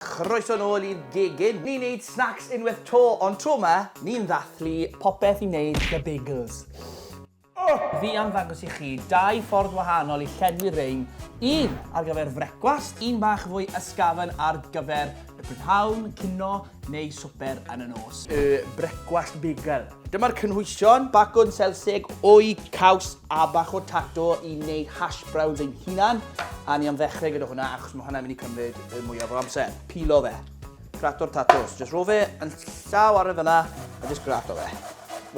Croeso'n ôl i'r gegin! Ni'n neud snacks unwaith to, ond tro ma, ni'n ddathlu popeth i wneud The Bagels. Fi am ddangos i chi dau ffordd wahanol i llenwi rein, un ar gyfer frecwast, un bach fwy ysgafn ar gyfer y prynhawn, cinio neu swper yn y nos. Y Brecwast Bagel. Dyma'r cynhwysion, bacwn selsig o'i caws a bach o tato i wneud hash browns ein hunan. A ni am ddechrau gyda hwnna achos mae hwnna'n mynd i cymryd y mwyaf o amser. Pilo fe. Grato'r tatos. Just ro fe yn llaw ar y fyna a just grato fe.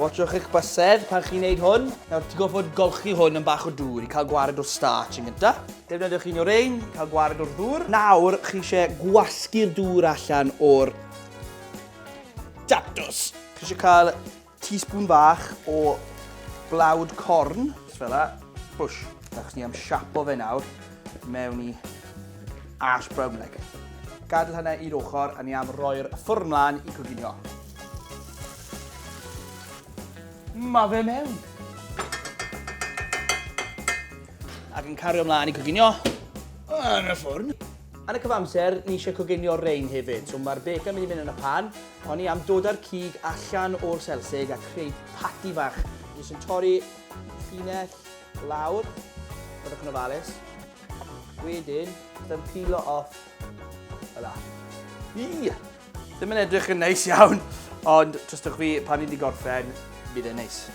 Watchwch eich bysedd pan chi'n neud hwn. Nawr, ti'n gofod golchi hwn yn bach o dŵr i cael gwared o'r starch yn gyntaf. Defnyddiwch un o'r ein, cael gwared o'r ddŵr. Nawr, chi eisiau gwasgu'r dŵr allan o'r Datws! Chi eisiau cael teaspoon fach o blawd corn, just fel la, bush. Achos ni am siapo fe nawr mewn i ash brown egg. Gadael hynna i'r ochr a ni am roi'r ffwrn mlaen i coginio. Mae fe mewn! Ac yn cario mlaen i coginio yn y ffwrn. Yn y cyfamser, ni eisiau coginio rein hefyd, so mae'r bacon mynd i mynd yn y pan. O'n i am dod â'r cig allan o'r selsig a creu pati fach. Ni eisiau torri llinell lawr, byddwch yn ofalus. Wedyn, byddwn pilo off y la. Ii! Ddim yn edrych yn neis iawn, ond trystwch fi, pan ni'n di gorffen, bydd e'n neis.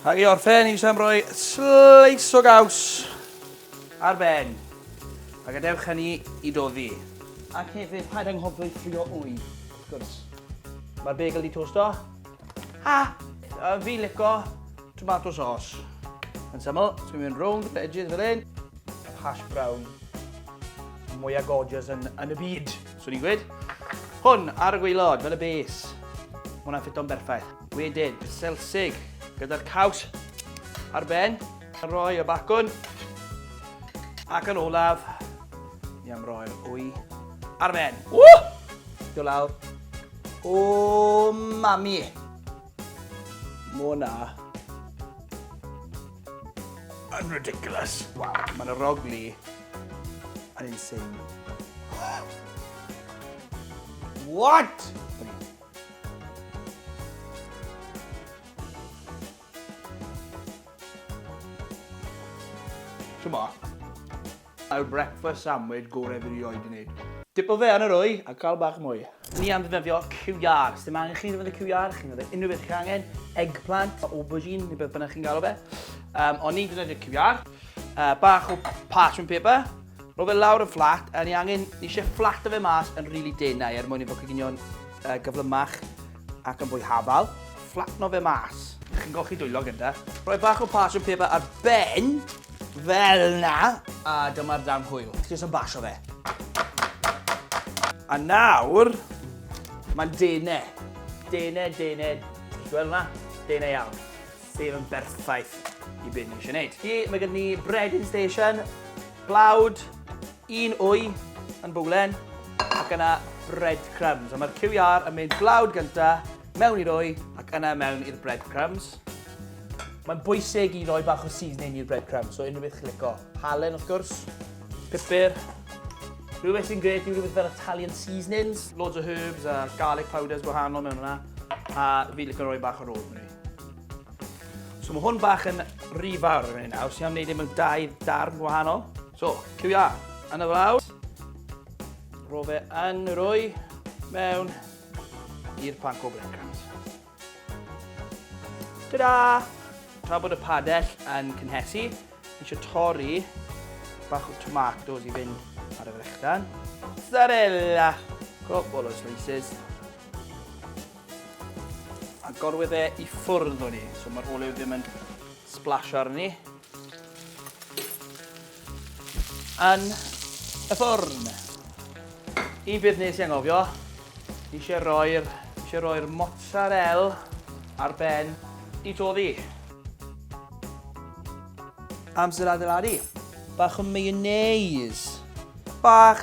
Ac i orffen, i Sam roi sleis o gaws ar ben. A gadewch hynny i doddi. Ac hefyd, paid anghofio i ffrio wy, wrth gwrs. Mae'r bagel di tosto. A, a fi lico tomato sauce. Yn syml, ti'n mynd rownd y edges fel hyn. Hash brown. Mwyaf gorgeous yn, yn y byd, swn i'n gweud. Hwn ar y gweilod, fel y base. Hwna'n ffito'n berffaith. Wedyn, y selsig, gyda'r caws ar ben. A rhoi y bacwn. Ac yn olaf, ni am roi'r wy ar ben. Ww! Do lawr. O, mami! Mona. Yn ridiculous. Wow, mae'n y rogli yn insane. What? Ch'mo'? Yw'r breakfast sandwich gore fi rioed 'di neud. Dipo fe yn yr wy a ca'l bach mwy. Ni am ddefnyddio QR. Sdim angen chi ddefnyddio QR, chi'n ddefnyddio unrhyw beth chi'n angen, eggplant, aubergine, neu beth bynnag chi'n galw fe. Yym, ond ni'n defnyddio QR. Yy, bach o parchment paper. Rho fe lawr yn fflat, a ni angen, ni eisiau fflato fe mas yn rili denau er mwyn i fod coginio'n uh, gyflymach ac yn fwy hafal. Fflatno fe mas. Chi'n golchi dwylo gyda. Rhoi bach o parchment paper ar ben, fel na, a dyma'r darn hwyl. Jyst yn basio fe. A nawr, mae'n denau. Denau, denau, gweld na? Denau iawn. Sef yn berffaith i be ni eisiau wneud. Ie, mae gen ni breading station, blawd, un wy yn bowlen, ac yna breadcrumbs. A mae'r QR yn mynd blawd gynta, mewn i'r wy, ac yna mewn i'r breadcrumbs. Mae'n bwysig i roi bach o seasoning i'r breadcrumbs, so unrhyw beth chi'n lico. Halen, wrth gwrs, pupur, Rhywbeth sy'n gret yw rhywbeth fel Italian seasonings. Loads o herbs a garlic powders gwahanol mewn yna. A fi licio rhoi bach o rosemary. So mae hwn bach yn rhy fawr yn ei nawr, sy'n am wneud e mewn dau darn wahanol. So, cywia, yn y flaw. Rho fe yn yr wy mewn i'r panco breadcrumbs. Ta-da! Tra bod y padell yn cynhesu, eisiau torri bach o tomatoes i fynd ar y frechdan. Mozzarella! Cwbl o slices. Agorwyd e i ffwrdd o'n i, so ma'r olew ddim yn sblasio arni. Yn y ffwrn. Un peth nes i angofio, eisiau roi'r eisiau roi'r mozzarella ar ben i toddi. Amser adeiladu. Bach o mayonnaise. Bach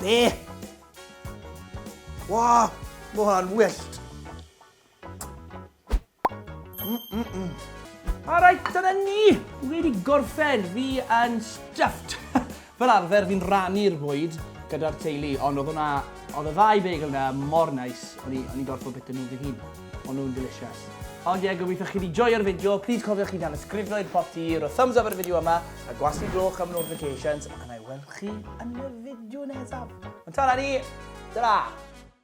Be? Wow, mae hwnna'n wyllt. Mm -mm -mm. Alright, dyna ni! Wedi gorffen, fi yn stuffed. Fel arfer, fi'n rannu'r fwyd gyda'r teulu, ond oedd hwnna, oedd y ddau bagel yna mor nais, o'n i'n gorfod bita nhw fy hun. O'n nhw'n delicious. Ond ie, gobeithio chi wedi joio'r fideo. Please cofiwch chi dan ysgrifno i'r pot i ro thumbs up ar y fideo yma, a gwasgu gloch am notifications, a na i weld chi yn y fideo nesaf. Ond ta-ra ni! Ta-ra!